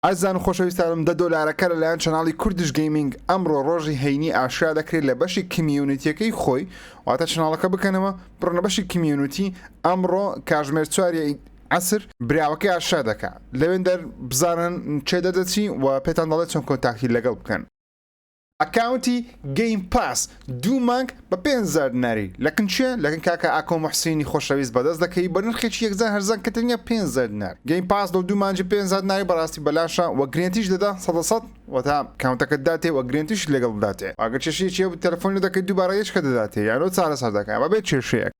ئەزیزان و خۆشەویستانم دە دۆلارەکە لەلایەن چەناڵی کوردش گەیمینگ ئەمڕۆ ڕۆژی هەینی ئاشکرا دەکرێت لە بەشی کمیونیتیەکەی خۆی واتە چەناڵەکە بکەنەوە بڕۆنە بەشی کمیونیتی ئەمڕۆ کاژمێر چواری عەسر براوەکەی ئاشکرا دەکا لەوێندەر بزانن کێ دەردەچی و پێتان دەڵێت چۆن کۆنتاکتی لەگەڵ بکەن. ئەکاونتی گەیم پاس دوو مانگ بە پێنج هەزار دیناری لە کن چیە لە کن کاکە ئاکۆ موحسینی خۆشەویست بەدەست دەکەوی بە نرخێکی یەکجار هەرزان کە تەنیا پێنج هەزار دینار گەیم پاس لۆ دوو مانجی پێنج هەزار دیناری بەڕاستی بەلاشە وە گرێنتیش دەدا سەدە سەد وەتا کاونتەکەت داتێ وە گرێنتیشت لەگەڵ بداتێ وە گەر چێشیەکی هەبوو تەلەفۆن لێ دەکەی دووبارە یەچکە دەداتێ یانۆ چارەسەر دەکا بەبێ چێشەیەک.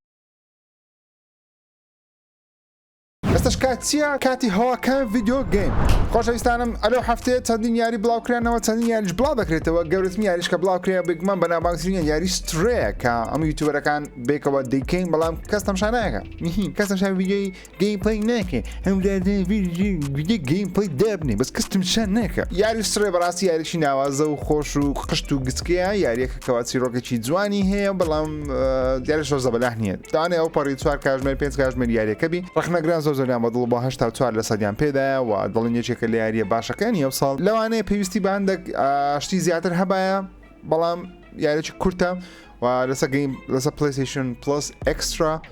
ئێستەش کات چییە؟ کاتی هەوا کەمە ڤیدیۆ گەیم. خۆشەویستانم ئەلەو هەفتەیە چەندین یاری بڵاوکرانەوە چەندین یاریش بڵاو دەکرێتەوە گەورەترین یاریش کە بڵاوکرێ بێگومان بە ناوبانگترینە یاری سترەیە کە ئەم یوتیوبەرەکان بێکەوە دەیکەین بەڵام کەس تەمشا ناکە میهین کەس تەمشا ویدیۆی گەیم پڵەی ناکێ هەم ویدیۆ گەیم پڵەی دابنێ بەس کەس تەمشا ناکە یاری سترەی بەڕاستی یاریی ناوازە و خۆش و قشت و گچکەیە یاریەکە کەوا چیرۆکێکی جوانی هەیە بەڵام دیارە شۆ زەبەلاح نییە داانێ ئەو پەڕی چوار کاژمێر پێنج کاژمێر یاریەکەبی ڕخنەگران زۆر زۆریان بە دڵ بە هشتا چوار لە سەدیان پێدایە و دڵن یەکێکە لە یاریە باشەکانی ئەو ساڵ لەوانەیە پێویستی باندێک شتی زیاتر هەبایە بەڵام یاریی کورتە و لەسە گەیم لەسە پلیسیشن پلس ئەکسترا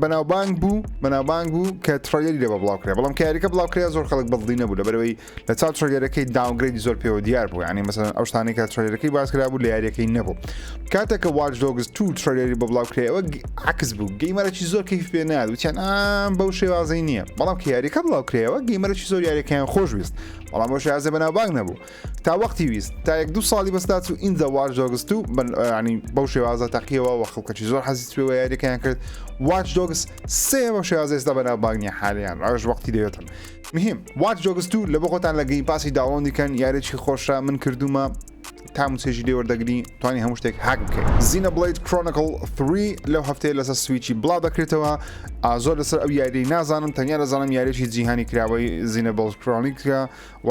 بەناوبانگ بوو بەناوبانگ بوو کە تڕۆگەری لێ بە بڵاو کرێ بەڵام کاریەکە بڵاو کرێ زۆر خەڵک بەڵدی نەبوو لەبەرەوەی لە چاو تڕۆگەرەکەی داونگرێدی زۆر پێوە دیار بوو ینی مەسەن ئەو شتانی کە تڕۆگەرەکەی باسکرا بوو لە یاریەکەی نەبوو کاتێک کە واچ دۆگز تو تڕۆگەری بە بڵاو کرێەوە عکس بوو گەیمەرەی زۆر کەیف پێ نار وچیان ئام بەو شێوازەی نییە بەڵام کە یاریەکە بڵاو کرێەوە گەیمەرەی زۆر یاریەکەیان خۆشویست بەڵام بۆ شازە بەناوبانگ نەبوو تا وەقتی ویست تا یەک دوو ساڵی بەس داچوو ئینجا واش دۆگس تو ینی بەو شێوازە تەقیەوە وە خەڵکەکی زۆر حەزی سوێوە یاریەکەیان کرد واش دۆگس سێ بە شێوازە ئێستا بەناو باگنی حالیان ڕژ وەقتی دەوێتن مهم واش دۆگس تو لە بۆ خۆتان لە گەین پاسی داوەندی کەن یارێکی خۆشە من کردومە تام سێژی لێوەردەگری توانی هەموو شتێک هاک بکەین زینە بڵیت کرۆنکل 3 لەو هەفتەیە لەسەر سویچی بڵاو دەکرێتەوە ئازۆر لەسەر ئەو یاری نازانم تەنیا دەزانم یاریی جیهانی کراوەی زینە بڵ کرۆنیکە و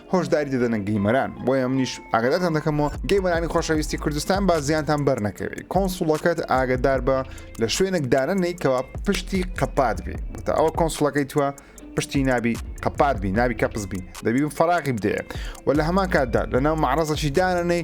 هۆشداری دەدەنە گەیمەران بۆیە منیش ئاگداتان دەکەمەوە گەیمەرانی خۆشەویستی کوردستان با زیانتان بەرنەکەوێت کۆنسوڵەکەت ئاگدار بە لە شوێنێک دانەنەی کەوا پشتی قەپات بێ بۆتە ئەوە کۆنسوڵەکەی توە پشتی نابی قەپات بی نابی کەپز بی دەبی فراغی بدەیە و لە هەمان کاتدا لە ناو معرەزەشی دانەنەی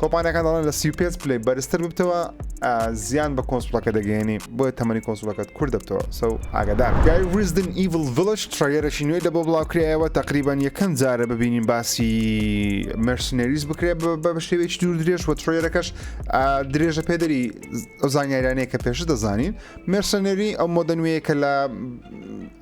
کۆمپانیاکان دەڵێن لە 35 پلەی بەرزتر ببتەوە زیان بە کۆنسپلەکە دەگەێنی بۆیە تەمەنی کۆنسلەکەت کورد دەبتەوە سەو ئاگدار گای ریزدن ئیڤل ڤلش ترەگەرەشی نوێی لە بۆ بڵاوکرایەوە تقریبان یەکەم جارە ببینین باسی مرسنەریز بکرێت بە شێوێکی دوور درێژ و ترۆیەرەکەش درێژە پێدەری ئەو زانیارانەیە کە پێش دەزانین مرسنەری ئەو مۆدە نوێیە کە لە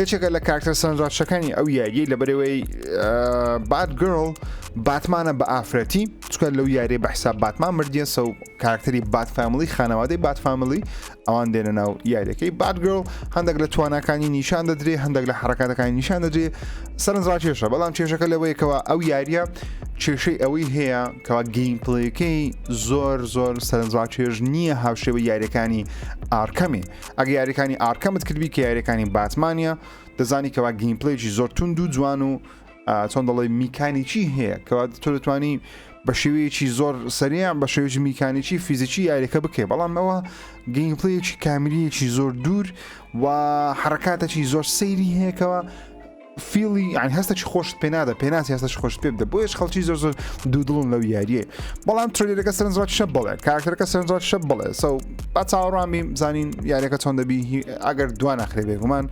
یەکێکە لە کارکتەر سەرنجڕاکشەکانی ئەو یاریەی لە بەرەوەی بات گرڵ باتمانە بە ئافرەتی چکە لەو یاری بە حساب باتمان مردیە سە و کارکتەری بات فامیلی خانەوادەی بات فامیلی ئەوان دێنە ناو یاریەکەی بات گرڵ هەندێک لە توانەکانی نیشان دەدرێ هەندێک لە حرکاتەکانی نیشان دەدرێ سەرنجڕا کێشە بەڵام کێشەکە لەوەیەکەوە ئەو یاریە کێشەی ئەوەی هەیە کەوا گەین پلەکەی زۆر زۆر سەرنجڕا کێش نییە هاوشێوە یاریەکانی ئارکەمی ئەگە یاریەکانی ئارکەمت کردبی کە یاریەکانی باتمانە دەزانی کەوا گیمپلێکی زۆر تونند و جوان و چۆن دەڵی میکانیکی هەیە کەوا تۆ دەتوانی بە شێوەیەکی زۆر سەریان بە شێوەی میکانیکی فیزیکی یاریەکە بکەێ بەڵام ئەوە گەیمپلەیەکی کامیریەکی زۆر دوور و حرکاتەکی زۆر سەیری هەیەکەوە فیڵی یان هەستێکی خۆشت پێ نادە پێناسی هەستەش خۆش پێ بدە بۆیش خەڵکی زۆر زۆر دوو دڵن لەو یاریە بەڵام ترلێرەکە سەرنجڕات شە بڵێ کاکتەرەکە سەرنجڕات شە بڵێ سەو با چاوەڕامی زانین یاریەکە چۆن دەبی ئەگەر دوان ناخرێ بێگومان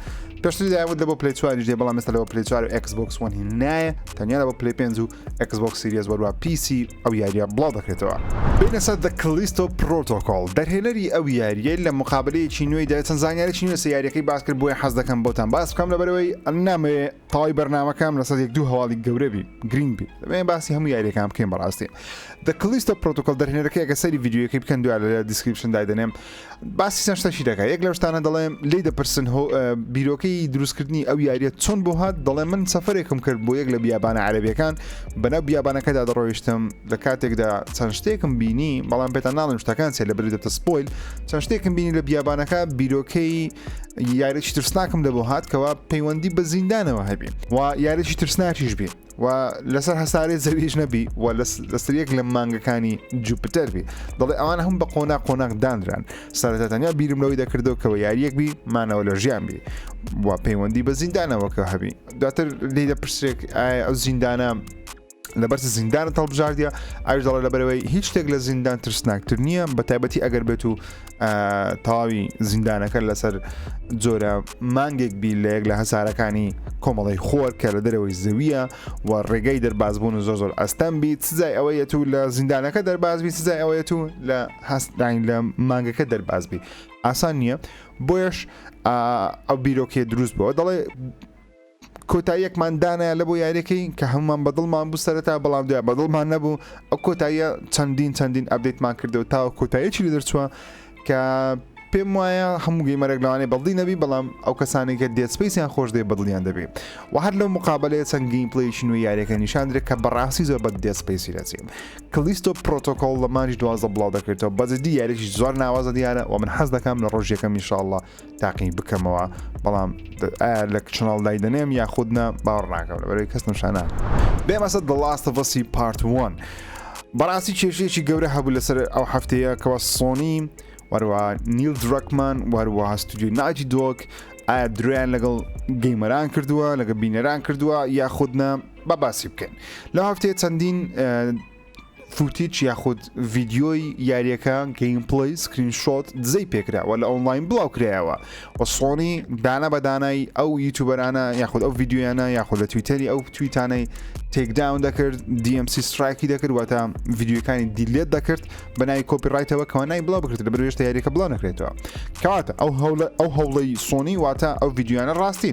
پێشتری داود لە بۆ پلیچواری دێ بەڵام مەسەر لەوە پلیچوار و ئەکسبکس وەنی نایە تەنیا لە بۆ پلی پێنج و ئێکس بۆکس سیریەس وەن و پیسی ئەو یاریە بڵاو دەکرێتەوە. بێینە سەر The Callisto Protocol دەرهێنەری ئەو یاریەی لە مقابەلەیەکی نوێیدا چەند زانیاریی نوێ لەسەر یاریەکەی باس کرد بۆیە حەز دەکەم بۆتان باس بکەم لەبەرەوەی نامەوێ تەواوی بەرنامەکەم لەسەر یەک دوو هەواڵی گەورە بی گرینگ بی دەبێ باسی هەموو یاریەکان بکەین بەڕاستی The Callisto Protocol دەرهێنەرەکەی ئەگە سەری ڤیدیۆیەکەی بکەن دوای لە دیسکریپشن دای دەنێم باسی چەند شتەکی دەکە یەک لەو شتانە دەڵێ لی دەپرسن بیرۆکەی دروستکردنی ئەو یاریە چۆن بۆ هات دەڵێ من سەفرێکم کرد بۆ یەک لە بیابانە عەربیەکان بەناو بیابانەکەدا دەڕۆیشتم لە کاتێکدا چەند شتێکم بینی بەڵام پێتان ناڵم شتەکان سێ لە بری دەتە سپۆیل چەند شتێکم بینی لە بیابانەکە بیرۆکەی یاریی ترسناکم لە بۆ هات کەوا پەیوەندی بە زیندانەوە هەبی و یاریی ترسناکیش بی و لەسەر هەسارەی زەویش نەبی و لەسەر یەک لە مانگەکانی جوپتەر بی دەڵێ ئەوان هەم بە قۆنا قۆناق دانران سەرەتا تەنیا بیرم لەوەی دەکردەوە کەەوە یاریەک بی مانەوە لە ژیان بی و پەیوەندی بە زیندانەوەکە هەبی دواتر لی دە پرسێک ئایا ئەو زیندانە لەبەر زیندانە تەڵبژاردە ئاش دەڵە لەبەرەوەی هیچ شتێک لە زیندان ترسناکتر نییە بە تایبەتی ئەگەر بێت و تەواوی زیندانەکە لەسەر جۆرە مانگێک بی لە یەک لە هەسارەکانی کۆمەڵی خۆر کە لە دەرەوەی زەویە و ڕێگەی دەرباز بوون زۆر زۆر ئەستەم بیت سزای ئەوەیەت و لە زیندانەکە دەرباز بی سزای ئەوەیەت و لە هەستداین لە مانگەکە دەرباز بی ئاسان نییە بۆیش ئەو بیرۆکێ دروست بەوە دەڵێ کۆتاییەکمان دانایە لەبۆ یاریەکەی کە هەموومان بەدڵمان بوو سەرەتا بەڵام دوای بەدڵمان نەبوو ئەو کۆتاییە چەندین چەندین ئەبدەیتمان کردەوە تاوە کۆتاییەکی لێ دەرچووە کە پێم وایە هەموو گەیمەرێک لەوانەیە بەڵدی نەبی بەڵام ئەو کەسانی کە دێت سپیسیان خۆش دێ بەدڵیان دەبی و هەر لەو مقابلەیە چەند گەیم پلەیەکی نوێ یاریەکە نیشان درێت کە بەڕاستی زۆر بە دێت سپیسی دەچێ کلیستۆ پرۆتۆکۆڵ لە مانجی دوازدە بڵاو دەکرێتەوە بەجدی یاریی زۆر ناوازە دیارە و من حەز دەکەم لە ڕۆژیەکەم ان شاء اللە تاقی بکەمەوە بەڵام لە چناڵ دایدەنێم یاخود نە باوەڕ ناکەم لە بەرەوەی کەس نشانە بێمەسە دڵاستە بەسی پارتوان بەڕاستی کێشێکی گەورە هەبوو لەسەر ئەو هەفتەیە کەەوە سۆنی وەروە نیل درەکمان وەروە هەستودی ناجی دۆک ئایا درۆیان لەگەڵ گەیمەران کردووە لەگە بینەران کردووە یاخودنا بە باسی بکەین لە هەفتەیە چەندین فوتیچ یاخود ڤیددیۆی یاریەکە گەیم پڵی سکرین شۆت دزەی پێکراوە لە ئۆنلاین بڵاو کرایەوە و سۆنی دانا بەدانای ئەو یوتوبەرانە یاخود ئەو یددیویانە یاخود لە تویتەری ئەو تویتانەی تێکداون دەکرد DMC سرایکی دەکردواتە یددیوەکانی دیلێت دەکرد بە نای کۆپی ڕایتەوە کەوانای بڵاو بکرێت لە بەێشتە یاریەکە بڵاو نەکرێتەوە کەواتە ئەو هەوڵە ئەو هەوڵی سۆنی واتە ئەو یددیویانە ڕاستی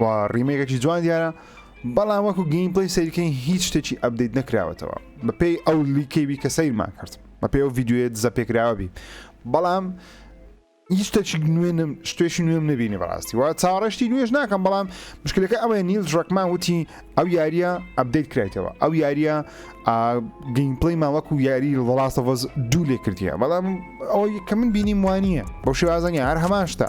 و ڕیمێکێکی جوان دیارە بەڵام وەکو گەیم پلی سەیرکەین هیچ شتێکی ئەبدەیت نەکراوەتەوە بەپێی ئەو لیکەوی کە سەیرمان کرد بەپێ ئەو یددیوێت زە پێکراوەبی بەڵام هیچتەچ نوێنم شتێکی نوێم نبینی بەڕاستی وا چاڕشتی نوێش ناکەم بەڵام مشکلەکە ئەوەیە نیل ڕکمان وتی ئەو یاریە ئەبدەیت کرایتەوە ئەو یاریە گەیمپلی ماوەکو یاری ڵاستەڤز دوو لێ کردیە بەڵام ئەوەی کە من بینیم وانە بەو شێوازەنی هەر هەمان شتە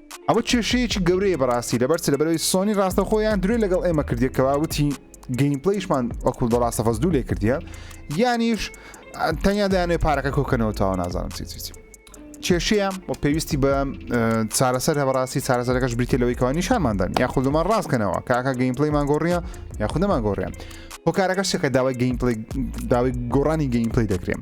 ئەمە کێشەیەکی گەورەیە بەڕاستی لەبەر لەبەرەوەی سۆنی ڕاستەخۆ یان درێ لەگەڵ ئێمە کردێک کەوا وتی گەیمپلیشمان وەکو بە ڕاستەفەز دوو لێ کردە یانیش تەنیا دایانێ پارەکە کۆکەنەوە تاوە نازانم چی چی. کێشەیە و پێویستی بە چارەسەر هەبڕاستی چارەسەرەکەش بریتە لەوەی کەوا نیشانماندان یا خودمان ڕاستکەنەوە کاکە گەیمپلیمان گۆڕیە یا خودەمان گۆڕیان هۆکارەکە شەکە داوای گەیمپلی داوای گۆڕانی گەیمپلی دەکرێن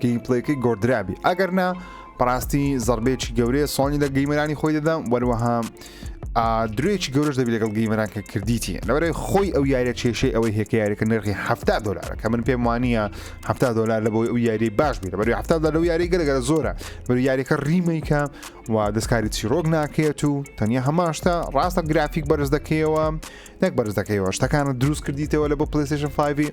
گەیم پلەیەکەی گۆردرابی ئەگەر نا بەڕاستی زەربێکی گەورەیە سۆنی لە گەیمەرانی خۆی دەدەم وەروەها درێکی گەورەش دەبی لەگەڵ گەیمەران کە کردیتی لەوەرەی خۆی ئەو یاریە کێشەی ئەوەی هێکە یاریەکە نرخی ه دلار کە من پێم وانە ه دلار لە بۆی ئەو یاری باش بێت بەری ه لەو یاری گەلگەرە زۆرە بەر یاریەکە ریمەیکە و دەستکاری چیرۆک ناکێت و تەنیا هەماشتا ڕاستە گرافیک بەرز دەکەیەوە نەک بەرز دەکەیەوە شتەکانە دروست کردیتەوە لە بۆ پلیسشن 5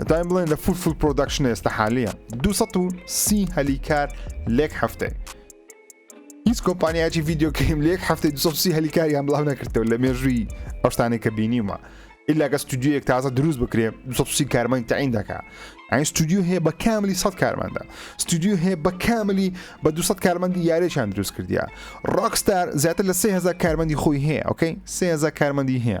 دەتوانین بڵێن لە فول فول پرۆداکشن ئێستا حالیە 230 هەلی کار لێک هەفتەی هیچ کۆمپانیایکی ڤیددیو کەیم لێک هەفتەی 230 هەلی کاریان بڵاو نەکردەوە لە مێژووی ئەوشتانی کە بینیمە ئللا گە ستودیوەک تازە دروست بکرێ 230 کارمەند تعین دەکە ئەین ستودیو هەیە بە کاملی 100 کارمەندە ستودیو هەیە بە کاملی بە 200 کارمەندی یارێکیان دروست کردیا ڕاکستار زیاتر لە 3000 کارمەندی خۆی هەیە ئۆکەی 3000 کارمەندی هەیە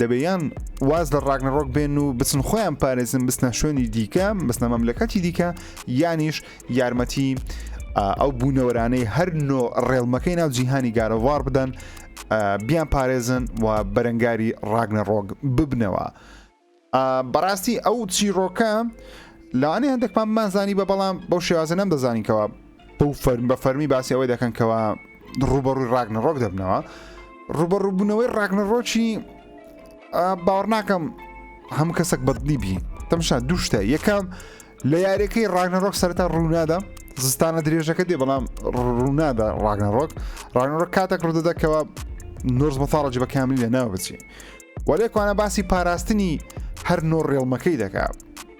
دەبێ یان واز لە ڕاگنەڕۆک بێن و بچن خۆیان پارێزن بستنە شوێنی دیکە بستنە مەملەکەتی دیکە یانیش یارمەتی ئەو بوونەوەرانەی هەر نۆ ڕێڵمەکەی ناو جیهانی گارەوار بدەن بیان پارێزن و بەرەنگاری ڕاگنە ڕۆگ ببنەوە بەڕاستی ئەو چیرۆکە لەوانەیە هەندێکمان مازانی بە بەڵام بەو شێوازە نەم دەزانینکەوە بەو فەرم بە فەرمی باسی ئەوەی دەکەن کەوا ڕوبەڕووی ڕاگنە ڕۆک دەبنەوە ڕوبەڕووبوونەوەی ڕاگنە ڕۆکی باوەڕ ناکەم هەم کەسێک بەدلی بی تەمشا دوو شتە یەکەم لە یاریەکەی ڕاگنە ڕۆک سەرتا ڕوونادا زستانە درێژەکە دێ بەڵام ڕوونادا ڕاگنە ڕۆک ڕاگنە ڕۆک کاتێک ڕوودەدەکەوە نۆرز بەتاڵەجی بە کاملی لە ناو بچی وەلێکوانە باسی پاراستنی هەر نۆ ڕێڵمەکەی دەکات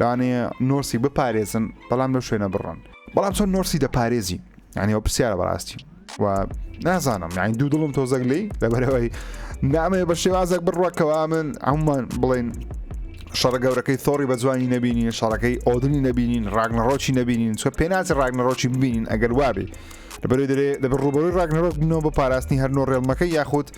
یانی نۆرسی بپارێزن بەڵام لەو شوێنە بڕۆن بەڵام چۆن نۆرسی دەپارێزی یانی ئەو پرسیارە بەڕاستی و نازانم یانی دوو دڵم تۆزەک لی لەبەرەوەی نامەیە بە شێوازەک بڕوەکەوا من ئەممان بڵێن شەڕە گەورەکەی تۆڕی بە جوانی نبینین شەڕەکەی ئۆدنی نبینین ڕاگنەڕۆکی نبینین چۆ پێناسی ڕاگنەڕۆکی ببینین ئەگەر وابێ لەبەر دەێ لە ڕوبەرۆی ڕاگنەڕۆک بنەوە بە پاراستنی هەرنۆ ڕێڵمەکە یاخود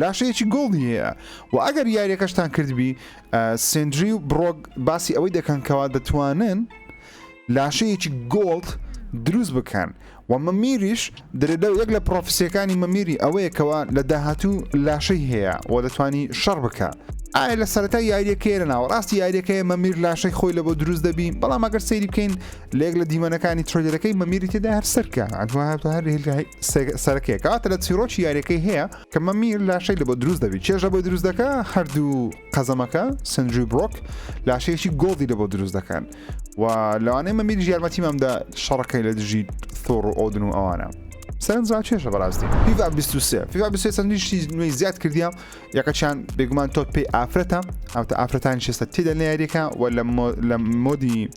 لاشەیەکی گۆڵدی هەیە و ئەگەر یاریەکەشتان کردبی سندری و بڕۆک باسی ئەوەی دەکەن کەوا دەتوانن لاشەیەکی گۆڵد دروست بکەن و مەمیریش درێدە و یەک لە پرۆفسیەکانی مەمیری ئەوەیەکەوە لە داهاتوو لاشەی هەیە و دەتوانی شەڕ بکە ئایا لە سەرەتا یاریەکەی لە ناوەڕاستی یاریەکەی مەمیر لاشەی خۆی لە بۆ دروست دەبی بەڵام ئەگەر سەیری بکەین لە یەک لە دیمەنەکانی ترۆیدەرەکەی مەمیری تێدا هەر سەرکە ئەتوانێت هەر هێلگای سێگ- سەرەکەیە کەواتە لە چیرۆکی یاریەکەی هەیە کە مەمیر لاشەی لە بۆ دروست دەبی چێژ لە بۆی دروست دەکە هەردوو قەزەمەکە سندری برۆک لاشەیەکی گۆڵدی لە بۆ دروست دەکەن و لەوانەیە مەمیر یارمەتی مامدا شەڕەکەی لە دژی ثۆڕ و ئۆدن و ئەوانە سەرنجڕا چێژە بەڕاستی فیفا 23 فیفا 23 چەندین شتی نوێی زیاد کردیە یەکەچیان بێگومان تۆت پێی ئافرەتە هاوتە ئافرەتانی شێستە تێدا لە یاریەکە و لە مۆ- لە مۆدی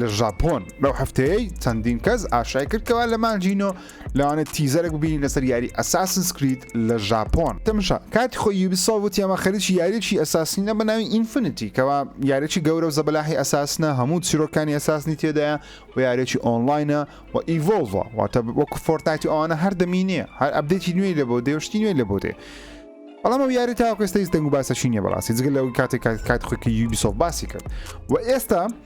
لە ژاپۆن لەو هەفتەیەی چەندین کەس ئاشای کرد کەوا لە مانجی نۆ لەوانێت تیزەرێک ببینین لەسەر یاری ئەساسن سکریت لە ژاپۆن تەمشا کاتی خۆی یوبیسۆ وتی ئەمە خەریکی یاریی ئەساسینە بە ناوی ئینفینیتی کەوا یاریی گەورە و زەبەلاحی ئەساسنە هەموو چیرۆکانی ئەساسنی تێدایە و یاریی ئۆنلاینە و ئیڤۆڵڤە واتە وەکو فۆرتنایت و ئەوانە هەر دەمینێ هەر ئەپدێتی نوێی لە بۆ دێ و شتی نوێی لە بۆ دێ بەڵام ئەو یاری تاوەکەستەیز دەنگ و باسەشی نییە بەڕاستی جگە لەوەی کاتێک کات خۆی کە یوبیسۆ باسی کرد و ئێستا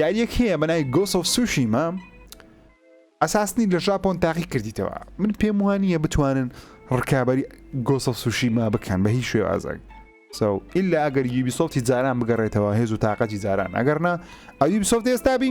یاریەک هەیە بەنای گۆس ئۆف سوشیما ئەساسنی لە ژاپۆن تاقی کردیتەوە من پێم وانە بتوانن ڕکابی گۆس ئۆف سوشیما بکەن بە هیچ شێوازەک سو ئللا ئەگەر یوبی سۆفتی جاران بگەڕێتەوە هێز و تااقەتی جاران ئەگەرنا ئەوی سۆفت ئێستابی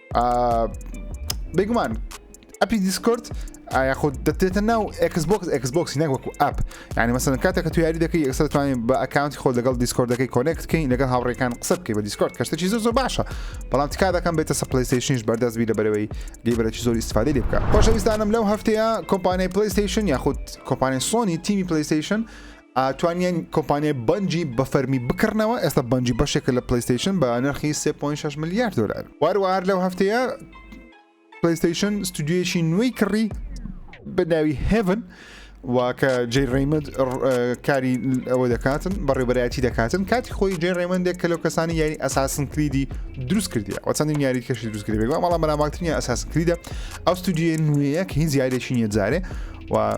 بگومان ئەپی دیسکرد یاخود دەتێتە ناو ئەکسبکس ئەکسبکسی نەک وەکو ئەپ ینی مەسەن کاتێکە تو یاری دەکەی ئەستا توانین بە ئەکاونتی خۆ لەگەڵ دیسکۆردەکەی کۆنێکتکەین لەگەڵ هاوڕێکان قسە بکەی بە دیسکۆرد کەشتێکی زۆر زۆر باشە بەڵام تکا دەکەم بێتە سە پلیستیشنش بەردەست بی لە بەرەوەی گەیبەرەی زۆر استفادی لێ بکە خۆشەویستانم لەو هەفتەیە کۆمپانیای پلیستیشن یاخود کۆمپانیای سۆنی تیمی پلیستیشن توانیان کۆمپانیای بەنجی بە فەرمی بکڕنەوە ئێستا بەنجی بەشێکە لە پلیستیشن بە نرخی 3.6 ملیار دلار واروار لەو هەفتەیە پلیستیشن ستودیویشی نوێی کڕی بەناوی هێڤن واکە جێ ڕیمد کاری ئەوە دەکاتن بەڕێبەرایەتی دەکاتن کاتی خۆی جێ ڕێمەندێک کە لەو کەسانی یاری ئەساسن کلیدی دروست کردی ئەو چەندین یاری کەشی دروست کردی بەڵام بەناماکتنی ئەساس کلیدە ئەو ستودیوە نوێیە کە هیچ یاریێکی نیە جارێ و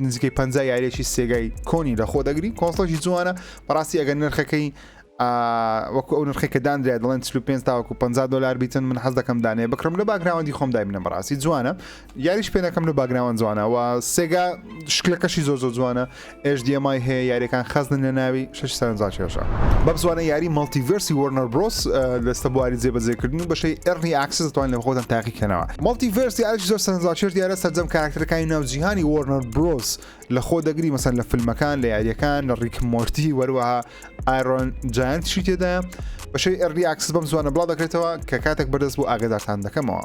نزیکەی پنج یاریێکی سێگای کۆنی لە خۆ دەگری کۆنسڵێکی جوانە بەڕاستی ئەگەر نرخەکەی وەکو ئەو نرخی کە دانرێ دەڵێن 5 تاوەکو 50 دلار بیتن من حەز دەکەم دانێ بکڕم لە باگراوەندی خۆم دابنە بەڕاستی جوانە یاریش پێەکەم لە باگراوان جوانەوە سێگا شکلەکەشی زۆر زۆر جوانە ئێش دیێمای هەیە یاریەکان خەزن لە ناوی شەش سەرنجا کێشا. بەمزوانە یاری مەڵتیڤێرسی وۆرنەر برۆس لەستە بواری جێبەجێکردن و بەشەی ئەرلی ئاکسس دەتوان لە خۆتان تاقیکەنەوە. مەڵتیڤێرس یارێکی زۆر سەرنجاکێش دیارە سەرجەم کاراکتەرەکانی ناو جیهانی وۆرنەر برۆس لە خۆ دەگری مەسەن لە فیلمەکان لە یاریەکان لە ڕیک مۆرتی وەروەها ئایرۆن جایانتشی تێدایە بەشەی ئەرلی ئاکسس بەم زوانە بڵاو دەکرێتەوە کە کاتێک بەردەست بۆ ئاگدارتان دەکەمەوە.